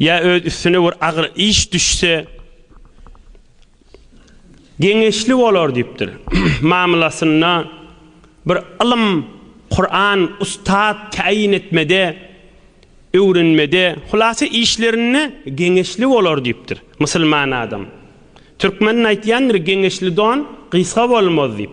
Ýa öz üstüne bir agyr iş düşse, geňeşli bolar diýipdir. Mamlasynda bir ylym, Kuran, ustad täýin etmede, öwrenmede, hulasa işlerinde geňeşli bolar diýipdir. Musulman adam. Türkmeniň aýtýandyr, geňeşli don gysga bolmaz diýip.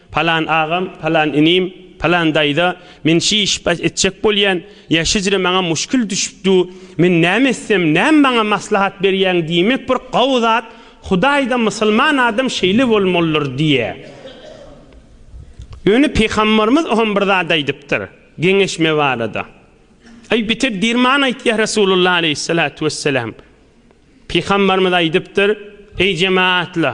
Palan agam, palan inim, palan daýza, men şi işi bas etjek bolýan, ýa şüjre maňa muşkil düşüp du, men näme etsem, näme maňa maslahat berýäň diýmek bir gawy zat, Hudaý-da musulman adam şeýle bolmalydyr diýýä. Ýöne Pygambarymyz oham bir zat aýdypdyr, geňeşme barada. Aý beter dirman aýtýa Resulullah aleýhissalatu wesselam. Pygambarymyz aýdypdyr, Eý jemaatla,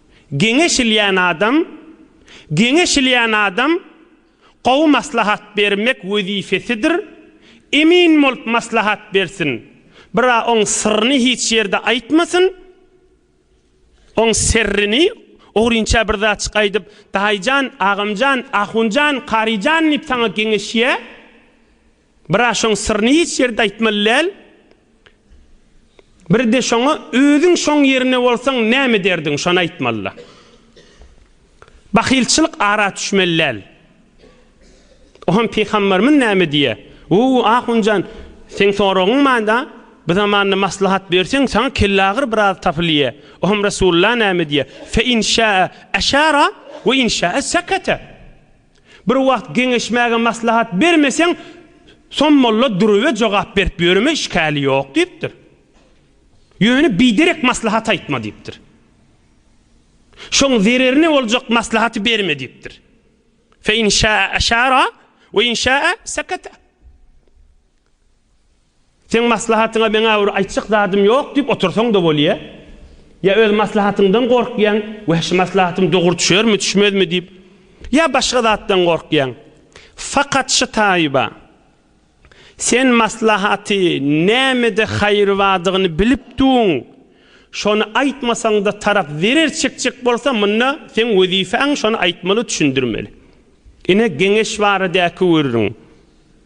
Geňeşilýän adam, Geňeşilýän adam gowy maslahat bermek wezipesidir, emin bolup maslahat bersin, bira oň syryny hiç ýerde aýtmasyn, oň serrini, ogrynça bir zatjyk aýdyp, daýyjan, agamjan, ahunjan, karyjan diýip saňa geňeşýä, Biraz şoň syryny hiç ýerde aýtmaly däl. Birde şoňa özüň şoň ýerinde bolsaň näme ederdiň şony aýtmalyda. Bahylçylyk ara düşmeli däl. Oham pygamberimiz näme diýýär? Wuu ahunjan seň soragyň manda bu zamanda maslahat berseň saňa kellagyr biraz tapylýa. Oham Resulullah näme diýýär? Fe inşa'a eşara we inşa'a sekete. Bir wagt geňeşmäge maslahat bermeseň, Som molla Duruwe jogap berip ýöreme, işgäli ýok diýipdir. Ýöne biderek maslahat aýtma diýipdir. Şoň zererine boljak maslahaty berme diýipdir. Fe in şäe eşara we in şäe sekete. Seň maslahatyňa meň-ä bir aýtjak zadym ýok diýip otursaň-da bolýa. Ýa öz maslahatyňdan gorkýaň, Weh, şu maslahatym dogry düşermi, düşmezmi diýip. Ýa başga zatdan gorkýaň. Fakat şu taýyba, sen maslahaty nämede haýry badygyny bilip duň, şony aýtmasaň-da tarap zerer çekjek bolsa, munda seň wezifäň şony aýtmaly, düşündirmeli. Ine, geňeş barada-a köwüririň.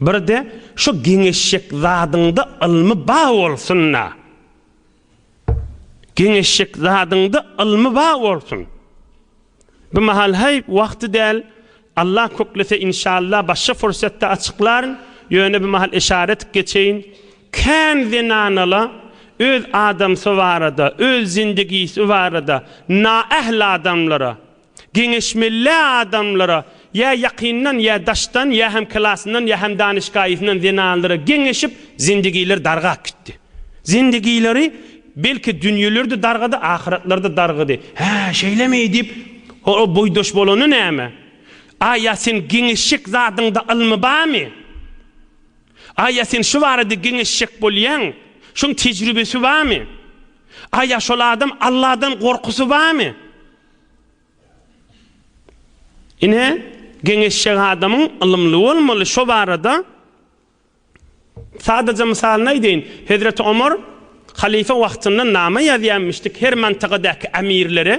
Birde şu geňeşjek zadyňda ylmy ba bolsunda. Geňeşjek zadyňda ylmy ba bolsun. Bu mahal heý wagty däl. Allah köklese inşallah başga fursatda açyklaryn. Ýöne bu mahal işara edip geçeýin. Kän zenanala öz adamsy barada, öz zindigisi barada naähli adamlara Geňeşmelilä adamlara, ýa ýakyndan, ýa daşdan, ýa hem klasyndan, ýa hem danyşgaýysyndan zenanlara geňeşip, zindigileri dargap gitdi. Zindigileri, belki, dünýeleri-de dargady, ahyratlary-da dargady. Hä, şeýlemi? diýip, ol boýdaş bolany näme? A ýa seň geňeşjek zadyňda ylmy barmy? A ýa sen şu barada geňeşjek bolýaň? Şoň tejribesi barmy? A ýa şol adam Alladan gorkusy barmy? Ine, geňeşjek adamyň ylymly bolmaly, şo barada sadaja mysalyny aýdaýyn. Hezreti Omar halyfa wagtynda nama ýazýarmyşdyk her mantykadaky emirlere,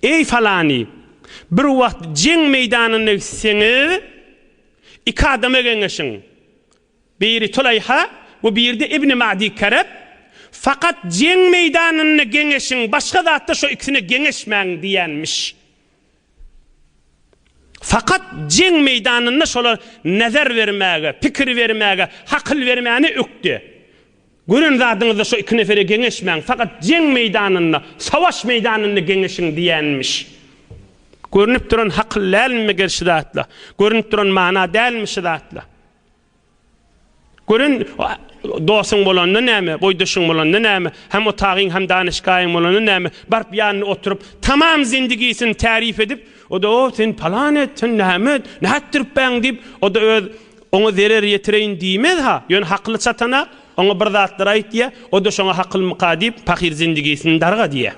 Eý, falany, bir wagt jeň meýdanyna gitseňiz, iki adama geňeşiň. Biri Tuleýha we biri-de Ibni Ma'di Kereb, Fakat jeň meýdanynda geňeşiň, başga zatda şu ikisine geňeşmäň diýenmiş. Fakat jeň meýdanynda şolar nezer bermäge, pikir bermäge, hakyl bermäne ökde. Gören zadyňyzda şu iki nefere geňeşmäň, fakat jeň meýdanynda, savaş meýdanynda geňeşiň diýenmiş. Görünip duran hakyl dälmi meger şu zatla? Görünip duran mana dälmi şu zatla? Gören, dosuň bolanda näme, boýdaşyň bolanda näme, hemotagaň, hemdanyşgaýyň bolanda näme, baryp ýanyna oturyp, tamam zindigisini täriýp edip, o-da, o, sen palan et, sen näme et, nätdiripbäň diýip, o-da öz oňa zerer ýetireýin diýmez-ha, ýöne hakyly çatana, oňa bir zatlar aýt diýýär, o-da şoňa hakylmyka diýip, pahyr zindigisini darga diýýär.